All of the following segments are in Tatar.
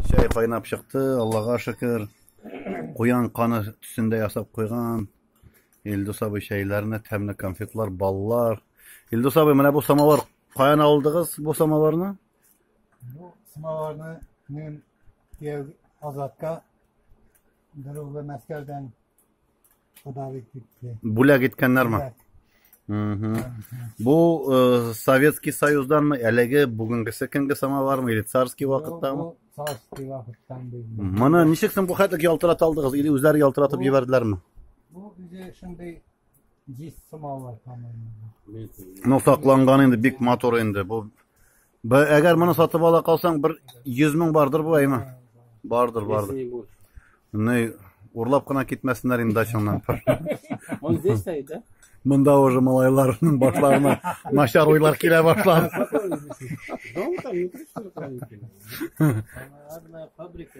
Чәй кайнап чыкты, Аллага шөкер. Куян каны төсендә ясап куйган. Илдус абый чәйләрне, тәмле конфетлар, баллар. Илдус абый, менә бу самовар каян алдыгыз бу самоварны? Бу самоварны мин кияү Азатка берүгә Мәскәүдән Бүләк иткәннәрме? Бу э, Советский Союзданмы, әлеге бүгенгесе көнге самовармы, или царский вакыттамы? Царский вакыттан булды. Моны ничек соң бу хәтлек ялтырата алдыгыз, или үзләре ялтыратып җибәрделәрме? Бу үзе шундый җиз самовар тамырында. Ну, сакланган инде бик матур инде. Бу Б- Әгәр моны сатып ала калсаң, бер 100 мең бардыр бу әйме. Бардыр, бардыр. Если не будет. Ни, урлап кына китмәсеннәр инде дачаңнан. Он здесь стоит, да? Монда уже малайларның башларына начар уйлар килә башлады. Дом там не пришли, там не пришли. Наверное, фабрика.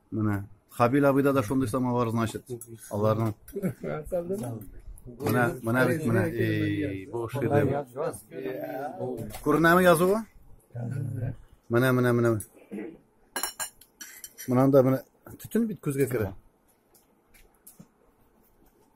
Менә Хабил абыйда да шундый самовар, значит, аларның. Менә, менә бит менә. Эй, бу шедевр. Күренәме язуы? Менә, менә, менә. Монанда менә төтен бит күзгә керә.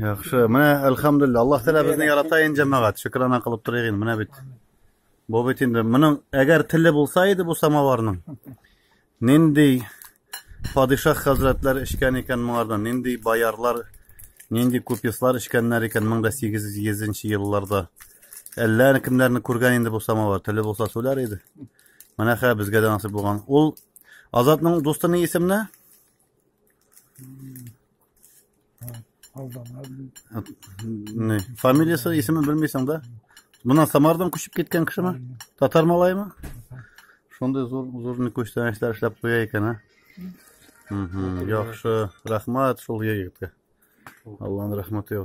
Яхшы, менә әлхәмдулилла. Аллаһ Тәгалә безне ярата ин җәмәгать. Шөкранә кылып торыйк ин, менә бит. Бу бит инде моның әгәр теле булса иде бу самоварның. Нинди падишах хәзрәтләр эчкән икән моңардан, нинди боярлар, нинди купецлар эчкәннәр икән 1800 елларда. Әллә кемнәрне күргән инде бу самовар, теле булса сүләр иде. Менә хә безгә дә насыйп булган. Ул Азатның дусты ни исемне? Ne? Фамилиясы, исемен белмисең да? Мына Самардан күчеп киткән кешеме? Татар малаймы? Шундый зур зур не күчтән эшләр эшләп куя икән, а? Яхшы, рәхмәт шул егеткә. Аллаһның рәхмәте